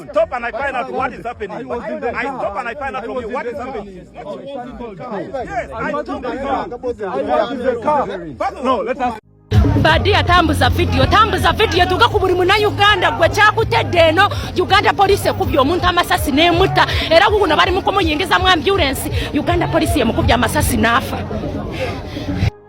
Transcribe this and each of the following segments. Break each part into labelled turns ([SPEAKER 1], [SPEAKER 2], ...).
[SPEAKER 1] stop and I find out what is happening. I stop and I find out from you what is happening.
[SPEAKER 2] Yes, I stop and find out. No, let us. Badia
[SPEAKER 3] tambuza video tambuza video tuka ku buli muna Uganda gwe kyakutedde eno Uganda police ekubye omuntu amasasi n'emutta era guguno bali mu kumuyingiza mu ambulance Uganda police yemukubye amasasi n'afa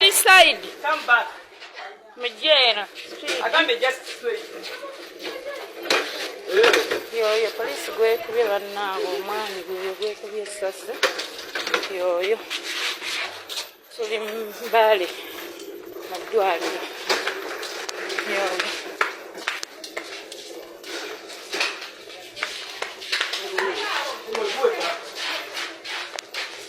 [SPEAKER 3] This side. Come back. Mjera. Agambe just straight. Yoyo police gwekubye bannaabo omwami gweyo gwekubye essasi yoyo tuli mbale mu ddwaliro yoyo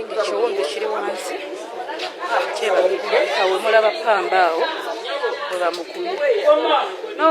[SPEAKER 3] ekiwundu kiri wansi kyebamukube awo mulaba pamba awo webamukuye no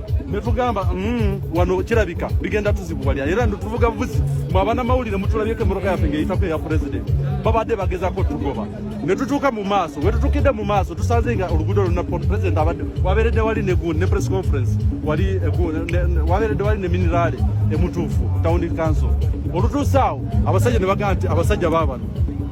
[SPEAKER 2] netugamba mm, wano kirabika bigenda tuzibuwalya era ntuvuga buvuzi mwabana mawulire mutulabyeko emmotoka yaffe ngeyitako eya pulezidenti babadde bagezako tugoba netutuuka mu maaso wetutukidde mu maaso tusanze nga oluguudo luna pulezidenti abadde waberedde wali negun ne press conference wali waberedde wali ne miniraale emutuufu tawuni kanso olutuuse awo abasajja ne bagamba nti abasajja babano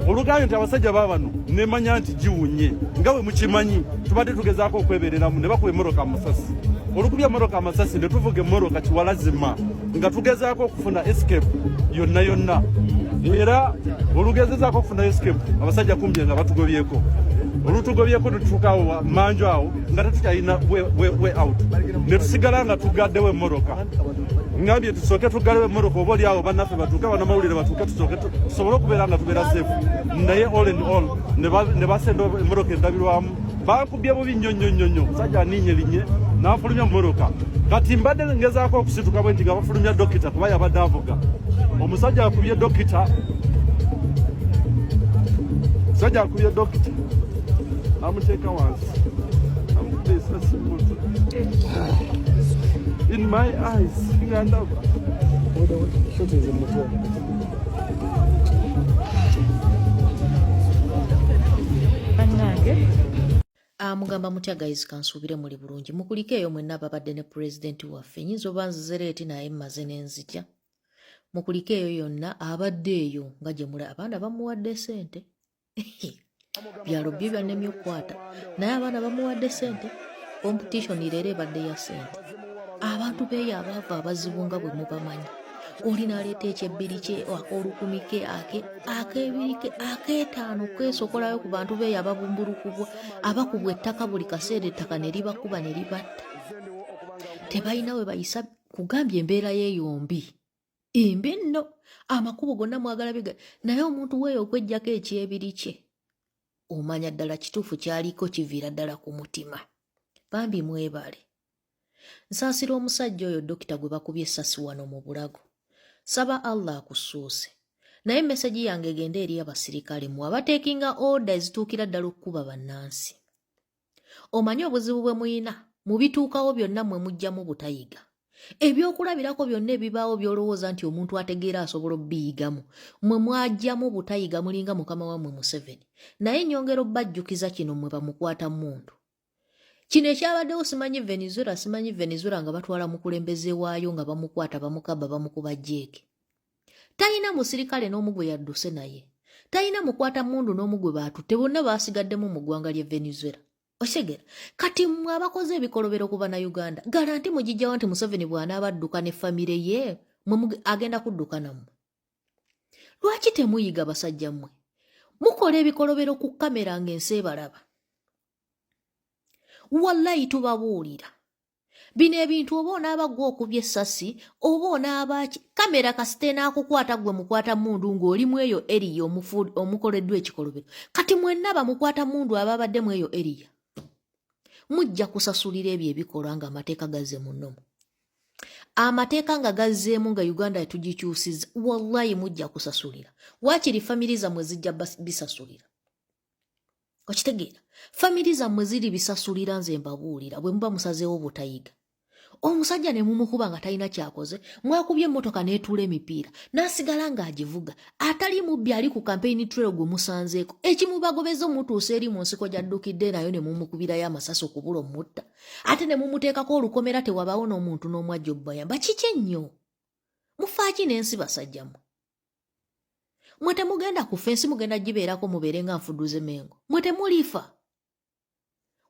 [SPEAKER 2] olugambye nti abasajja babano nemanya nti giwunye nga we mukimanyi tubadde tugezaako okwebereramu ne bakuba emmoroka amasasi olukubya emmoroka amasasi ne tuvuga emmoroka kiwalazima nga tugezaako okufuna escape yonna yonna era olugezezaako okufuna escape abasajja kumbye nga batugobyeko olutugobyeko netutuukawo manju awo nga tetukyalina way out netusigala nga tugaddewo emmoroka ngambye tusooke tugalewo emmoroka oba oli awo bannaffe batuuke banamawulire batuuke tusooke tusobole okubeera nga tubeera safe naye all and all ne basenda emmotoka endabirwamu bankubye bubi nnyo nnyo nnyo nnyo musajja aninye linye n'afulumya mummotoka kati mbadde ngezaako okusituka bwe nti nga bafulumya dokita kuba yabadde avuga omusajja akubye dokita musajja akubye dokita namuteeka wansi amukubye esasi muntu in my eyes ngandaba
[SPEAKER 4] amugamba mutya guys kansuubire muli bulungi mukulike eyo mwenna ababadde ne pulezidenti waffe nyinza oba nzizera eti naye mmaze nenzija mukulike eyo yonna abadde eyo nga gye mula abaana bamuwadde sente byalo byo byanemye okukwata naye abaana bamuwadde sente competition leero ebadde ya sente abantu beeyo abaava abazibu nga bwe mubamanyi oli naleeta ekyebbiri kye olukumi ke ake akebiri ke akeetaano kwesokolayo ku bantu beeyo ababumbulukubwa abakubwa ettaka buli kaseera ettaka ne libakuba ne libatta tebalina we bayisa kugambye embeera yeeyombi imbi nno amakubo gonna mwagala biga naye omuntu weeyo okwejjako ekyebiri kye omanya ddala kituufu kyaliko kiviira ddala ku mutima bambi mwebale nsaasira omusajja oyo dokita gwe bakubye essasi wano mu bulago saba allah akusuuse naye mesegi yange egende eri abasirikale mu abateekinga oda ezituukira ddala okukuba bannansi omanyi obuzibu bwe muyina mu bituukawo byonna mwe mujjamu butayiga ebyokulabirako byonna ebibaawo byolowooza nti omuntu ategeera asobola obiyigamu mwe mwajjamu butayiga mulinga mukama wammwe museveni naye nyongera obbajjukiza kino mwe bamukwata muntu kino ekyabaddewo simanyi venezuela simanyi venezuela nga batwala mukulembeze waayo nga bamukwata bamukaba bamukuba jeeke talina musirikale n'omu gwe yadduse naye talina mukwata mundu n'omu gwe baatutte bonna baasigaddemu mu ggwanga ly'e venezuela okitegera kati mwe abakoze ebikolobero ku banauganda garanti mugijjawo nti museveni bw'anaaba adduka ne famire ye mwe agenda kudduka nammwe lwaki temuyiga basajja mmwe mukola ebikolobero ku kamera ng'ensi ebalaba wallayi tubabuulira bino ebintu oba onaaba gwe okubye essasi oba onaabaaki kamera kasita enaakukwata gwe mukwata mundu ng'oli mu eyo eriya omukoleddwa ekikolobero kati mwenna bamukwata mundu ababadde mu eyo eriya mujja kusasulira ebyo ebikolwa ng'amateeka gazze mu nnomu amateeka nga gazzeemu nga uganda etugikyusiza wallayi mujja kusasulira waakiri famiri zammwe zijja bisasulira okitegeera famiri zammwe ziri bisasulira nze mbabuulira bwe muba musazeewo butayiga omusajja ne mumukuba nga talina kyakoze mwakubye emmotoka n'etuula emipiira n'asigala ng'agivuga atali mubbi ali ku kampeyini trail gwe musanzeeko ekimubagobeza omutuusa eri mu nsiko gy'addukidde nayo ne mumukubirayo amasasi okubula omutta ate ne mumuteekako olukomera tewabaawo n'omuntu n'omu ajja obubayamba kiki ennyo mufaaki n'ensi basajjamwe mwe temugenda kufa ensi mugenda gibeerako mubeere nga nfuduze mengo mwe temulifa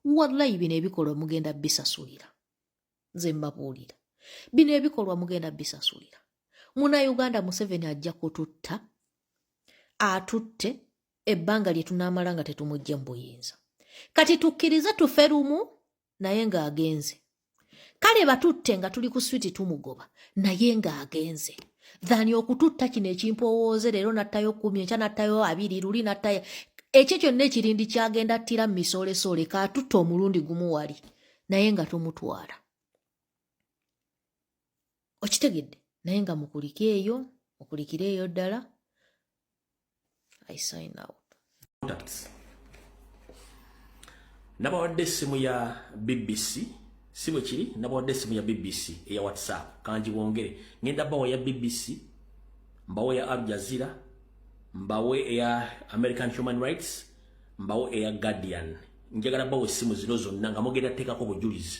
[SPEAKER 4] wallayi bino ebikolwa mugenda bisasulira nze mbabuulira bino ebikolwa mugenda bisasulira muna uganda museveni ajja kututta atutte ebbanga lye tunaamala nga tetumugye mu buyinza kati tukkirize tufe lumu naye ng'agenze kale batutte nga tuli ku switi tumugoba naye ng'agenze thani okututta kino ekimpowooze leero nattayo kumi enkya nattayo abiri luli nattayo ekyo kyonna ekirindi kyagenda ttira mu misoolesole kaatutte omulundi gumu wali naye nga tomutwala okitegedde naye nga mukulike eyo mukulikire eyo ddala i sign out products
[SPEAKER 5] nabawadde essimu ya bbc si bwe kiri nabawadde essimu ya bbc eya whatsapp kangi bwongere ngenda bawa ya bbc mbawo ya al jazira mbawo eya american human rights mbawo eya guardian njagala bawa essimu zino zonna nga mugenda teekako bujulizi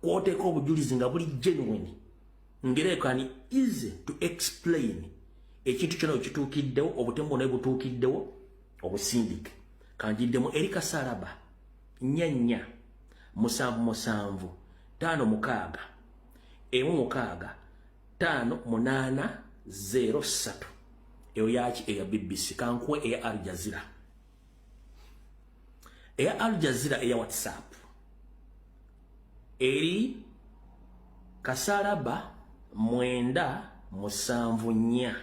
[SPEAKER 5] kwoteka obujulizi nga buli genuine ngere kani easy to explain ekintu kyona okituukiddewo obutemu bwona butuukiddewo obusindike kanjiddemu eri kasalaba nyanya musanvu musanvu taano mukaaga emu mukaaga taano munaana zero ssatu eyo yaki eya bbc kankuwa eya aljazira eya Al Jazeera eya WhatsApp eri kasalaba mwenda musanvu nnya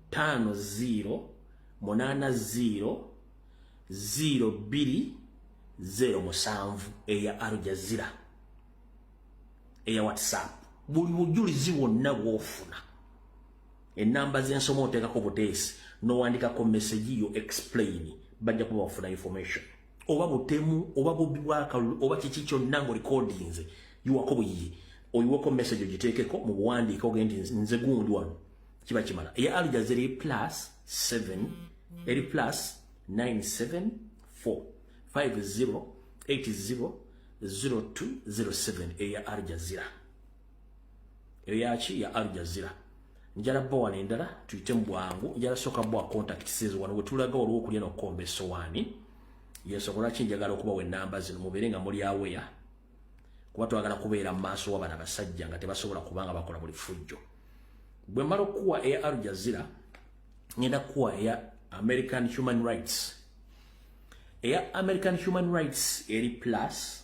[SPEAKER 5] taano ziiro munaana ziiro ziiro bbiri zeero musanvu eya Al Jazeera eya WhatsApp buli bujulizi bwonna bwofuna enamba zensoma otekako buteesi nowandikako message yo explain bajja kuba bafuna information oba butemu oba bubbi bwakalulu oba kiki kyonna nga olikodinze yiwako buyiye oyiweko message ogiteekeko mu buwandiika ogendi nze gundi wano kiba kimala eya aljaza eri plus 7 eri plus 974 50 80 0207 eya aljazira eyo yaki ya Al Jazeera njala bba wano endala tuyite mu bwangu njala soka bwa contact says wano wetulaga waliwo okulya nokukomba esowaani yensonga lwaki njagala okubawa enamba zino mubeere nga muli aweya kuba twagala kubeera mu maaso wa bana basajja nga tebasobola kuba nga bakola buli fujjo bwe mmala okukuwa eya Al Jazeera ngenda kukuwa eya American Human Rights eya American Human Rights eri plus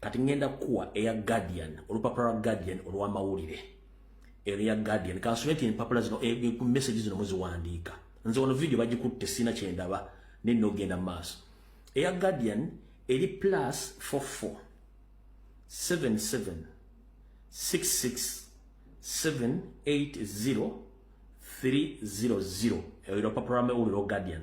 [SPEAKER 5] kati ngenda kuwa eya guardian olupapula lwa guardian olwamawulire ero ya guardian kansome ti empapula zino eh, eh, ku message zino muziwandiika nze wano video bagikutte sina kyendaba nenna ogenda mu maaso eya guardian eri plus 44 77 66 780 300 eyo lupapula lwa mawulire o guardian